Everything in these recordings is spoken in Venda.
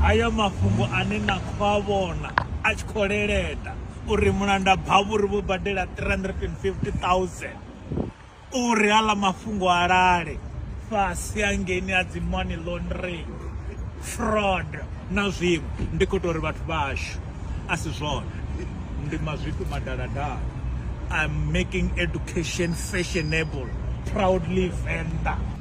Haya mafhungo ane na khou a vhona a tshi khou leleda uri mulanda bhavhuri vho badela 350 000 uri hala mafhungo a lale fhasi hangeni a dzi money laundering fraud na zwiṅwe ndi khou tou ri vhathu vhashu a si zwone ndi mazwifhi madaladala I'm making education fashionable proudly Venḓa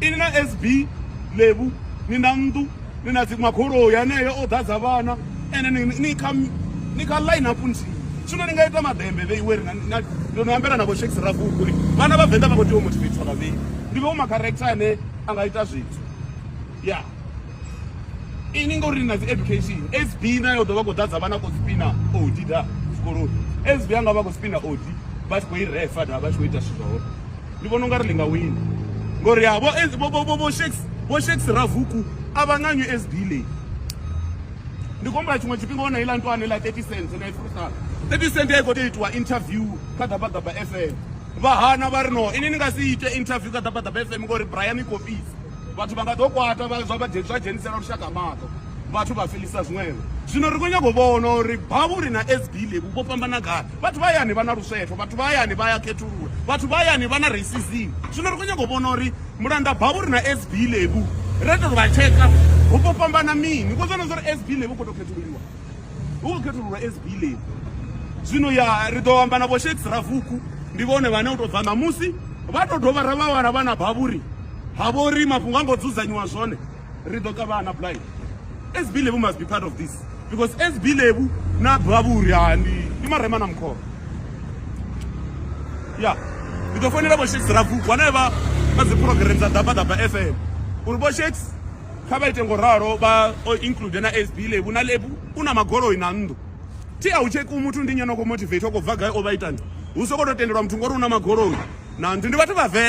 Ini na SB Lebu ni na nnḓu ni na dzi magoloi haneyo o ḓadza vhana ende ni kha ni kha line up nthihi zwino ni nga ita maḓembe vheiwe ri na ndo no ambela na vho shakes ragugu uri vhana vha venḓa vha khou tea u motivator vhavhei ndi vhe u macarector ane a nga ita zwithu ya ini ngori ni na dzi education sb nayo ḓo vha khou ḓadza vhana khou spina odi da zwikoloni sb anga vha khou spina odi vha tshi khou i refa da vha tshi khou ita zwithu zwa hone ndi vhona ungari ḽi nga wina ngori ya vho vho shakes vho shakes ravuku a vha nga usd leyi ndi khombo ya tshiṅwe tshifhinga wo na iḽa ntwane ḽa 30 cent na ifrusa 30 cent ya i khou tea itiwa interview kha ḓabaḓaba fm vha hana vha ri no ini ni nga si ite interview kha ḓabaḓaba fm ngori brian copies vhathu vha nga ḓo kwata zwa vha dzhenisela lushaka maṱo vhathu vha felisa zwiṅwevho zwino ri khou nyaka u vhona uri bhavhuri na sd lebu vho fhambana gai Vhathu vha hayani vha na luswetho, vhathu vha hayani vha ya khethulula, vhathu vha hayani vha na racism. Zwino ri khou nyaga u vhona uri mulanda bavhu ri na SB lebu ra tou vha tsheka hu khou fhambana mini. Vhudza na zwauri SB lebu khou tou khethululiwa. Hu khou khethululwa SB lebu. Zwino ya ri ḓo amba na vho Shakes Ravuku ndi vhone vhane u tou bva ṋamusi vha tou dovha ra vha wana vha na bavhuri ha vhori mafhungo a ngo dzudzanyiwa zwone. ri ḓo ṱavhana na blind sb lebu must be part of this because sb lebu na bva vhuri ha ndi ndi marema na mkhoro ya ndi ḓo fonela vho shakes ragu vhane vha vha dzi program dza daba daba fm uri vho shakes kha vha ite ngo ralo vha o include na sb lebu na lebu u na magoloi na nnḓu thi a u tsheki muthu ndi nyana khou motivate o khou bva gai o vha itani hu sokou tou tendelwa muthu ngori u na magoloi na nnḓu ndi vhathu vhavenḓa